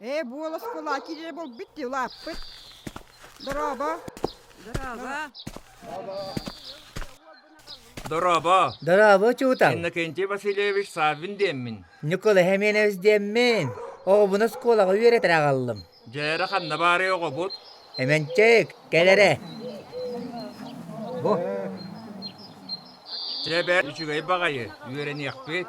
Ээ, буолас кулаки дьэ булбут ти улааппыт. Дорообо. Дорооба. Дорообо. Дорообо, учуутал. Иннокентий Васильевич Саввин диэммин. Ньукула Хеменевич диэммин. Оҕобун оскуолаҕа үөрэтэр аҕаллым. Дьээре ханна баарый оҕобут? Эменчик, кэлэрэ. Бу. Чэ бэрт үчүгэй баҕайы үөрэниэхпит.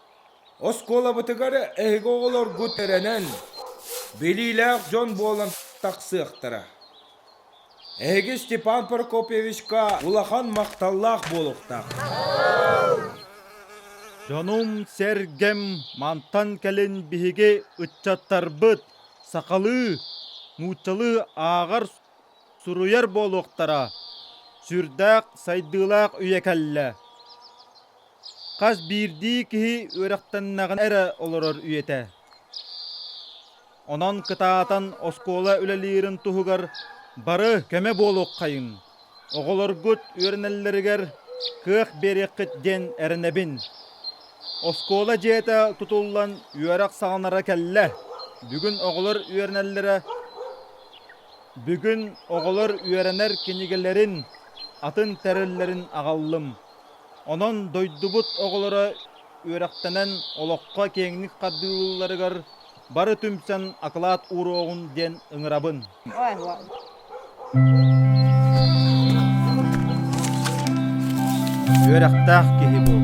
Оскуолабытыгар эһиги оҕолоргут эрэнэн, билиилээх дьон буолан тахсыахтара. Эһиги Степан Прокопьевичка улахан махталлаах буолуохтааххыт. Дьонум-сэргэм мантан кэлин биһиги ыччаттарбыт сахалыы, нууччалыы ааҕар суруйар буолуохтара, сүрдээх сайдыылаах үйэ кэллэ. Хас биирдии киһи үөрэхтэннэҕинэ эрэ олорор үйэтэ. Онон кытаатан оскуола үлэлиирин туһугар бары көмө буолуоххайын, оҕолоргут үөрэнэллэригэр кыах биэриэххит диэн эрэнэбин. Оскуола дьиэтэ тутуллан үөрэх саҕаланара кэллэ. Бүгүн оҕолор үөрэнэллэрэ Бүгүн оҕолор үөрэнэр кинигэлэрин атын тэриллэрин аҕаллым. Онон дойдубут оҕолоро үөрэхтэнэн олоххо киэҥник хардыылыылларыгар бары түмсэн акылаат ууруоҕун диэн ыҥырабын. Үөрэхтээх киһи буол.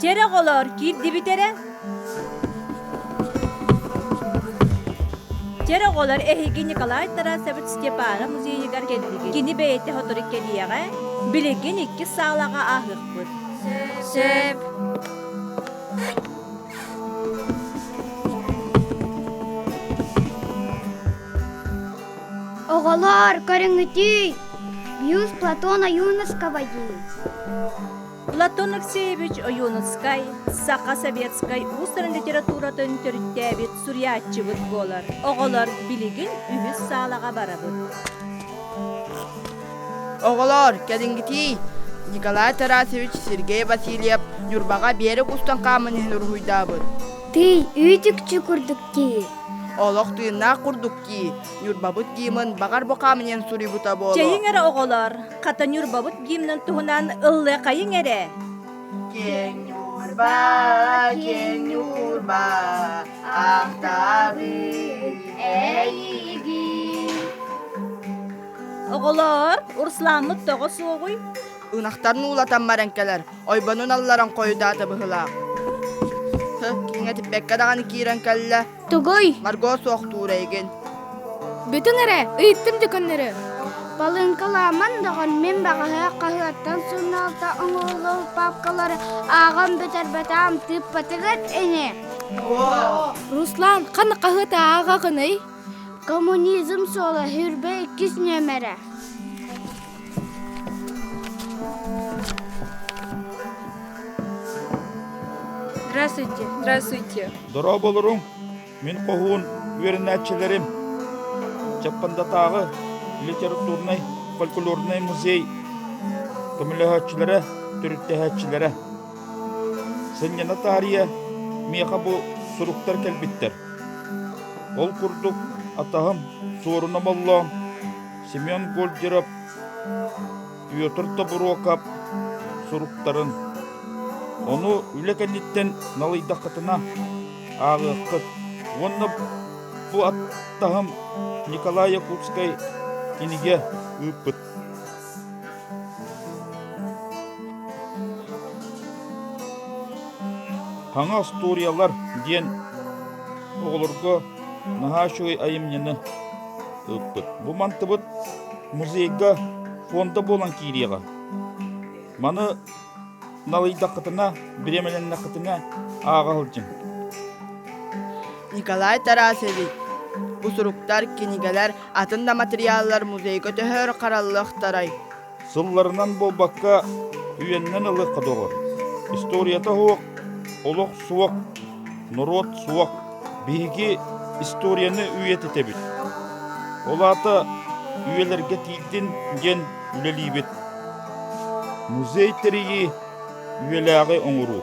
Чэр оҕолоор киирдибит эрэ Чэр оҕолор эһиги Николай Тарасович Степанов музейыгар кэллигит Кини бэйэтэ сотору кэлиэҕэ Билигин иккис саалаҕа ааһыахпыт Сөп Оҕолоор, көрүҥүтүй! Мuse Платон Ойуновского дии. Платон Алексеевич Ойуновскай Саха советскай уустарын литературатын төрүттээбит суруйааччыбыт буолар. Оҕолор билигин үһүс саалаҕа барабыт. Оҕолоор, кэлиҥҥитий! Николай Тарасович Сергей Васильев Ньурбаҕа биэрэк устан хааман иһэн уруһуйдаабыт. Тый, үүтүкчү курдук дии. Олох тыыннаах курдук дии, Ньурбабыт гимн баҕар бу хаамыньыан суруйбута буолуо. Чэйиҥ эрэ оҕолор, хата Ньурбабыт гимнын туһунан ыллыаххайыҥ эрэ. Киэҥ Ньурба, киэҥ Ньурба, ахтабыт эйигин. Оҕолор, Урсуламмыт тоҕо суоҕуй? Ынахтарын уулатан баран кэлэр, ойбонун алларан хойутаата быһылаах. Киҥэ типпэккэ даҕаны киирэн кэллэ, Тугуй? Марго суох туура игин. Бүтүн эрэ, ыйыттым декөннөрү. Балыыҥкалааман доҕон мин баҕаһы хаһыаттан суруналта оҥоһуллубут папкалары ааҕан бүтэрбэтэм тыыппатыгыт ини. Руслан, ханна хаһыат ааҕа гыный? Коммунизм суола хүрбэ иккис нүөмэрэ. Здравствуйте, здравствуйте. Дорооболоруҥ, мин хоһуун үөрэнээччилэрим. Чаппандатааҕы литературнай фольклорнай музей көмөлөһөөччүлэрэ, төрүттэһээччилэрэ. Сынньана таарыйа миэхэ бу суруктар кэлбиттэр. Ол курдук атаһым Суорун Оболлоон Семен Гольдеров, Петр Тобуруокап суруктарын ону үлэ кэнниттэн налыйдаххытына ааҕыаххыт уонна бу аттаһым Николай Якутскай кинигэ ыыппыт. Хаҥа остуоруйалар диэн оҕолорго наһаа үчүгэй айымньыны ыыппыт. Бу мантыбыт музейга фонда буолан киириэҕэ. Маны налыйдаххытына, бириэмэлэннэххитинэ ааҕа сылдьыҥ. Николай Тарасович, бу суруктар, кинигэлэр атын да матырыйааллар музейга төһөөр хараллыахтарай? Сылларынан буолбакка, үөннэн ылыахха доҕор. Историята суох, олох суох, норуот суох. Биһиги историяны үйэтитэбит. Ол аата үйэлэргэ тиийдин диэн үлэлиибит. Музей тэрийии үйэлээҕи оҥоруу.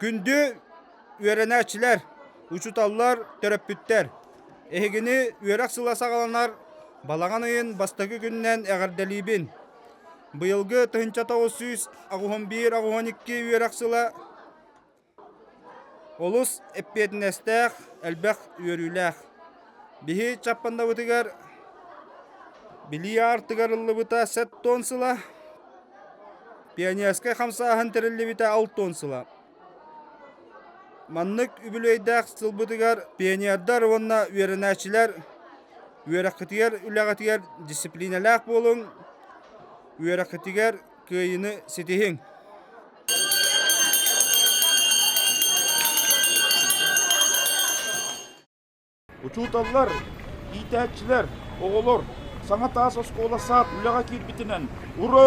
Күндү үөрэнээччилэр, учууталлар, төрөппүттэр! Эһигини үөрэх сыла саҕаланар балаҕан ыйын бастакы күнүнэн эҕэрдэлиибин! Быйылгы тыһыынча тоҕус сүүс аҕыһын биир аҕыһын икки үөрэх сыла Олус эппиэтинэстээх, элбэх үөрүүлээх. Биһи Чаппаннабытыгар билии аартыгар ыллыбыта сэт туон сыла, пионерскай хамсааһын тэриллибитэ алт туон сыла. Маннык үбүлүөйдээх сылбытыгар пионердар уонна үөрэнээччилэр үөрэххитигэр үлэҕитигэр дисциплиналаах буолуҥ, үөрэххитигэр Кыайыыны ситиһиҥ! Учууталлар, иитээччилэр, оҕолор саҥа таас оскуола саад үлэҕэ киирбитинэн ура!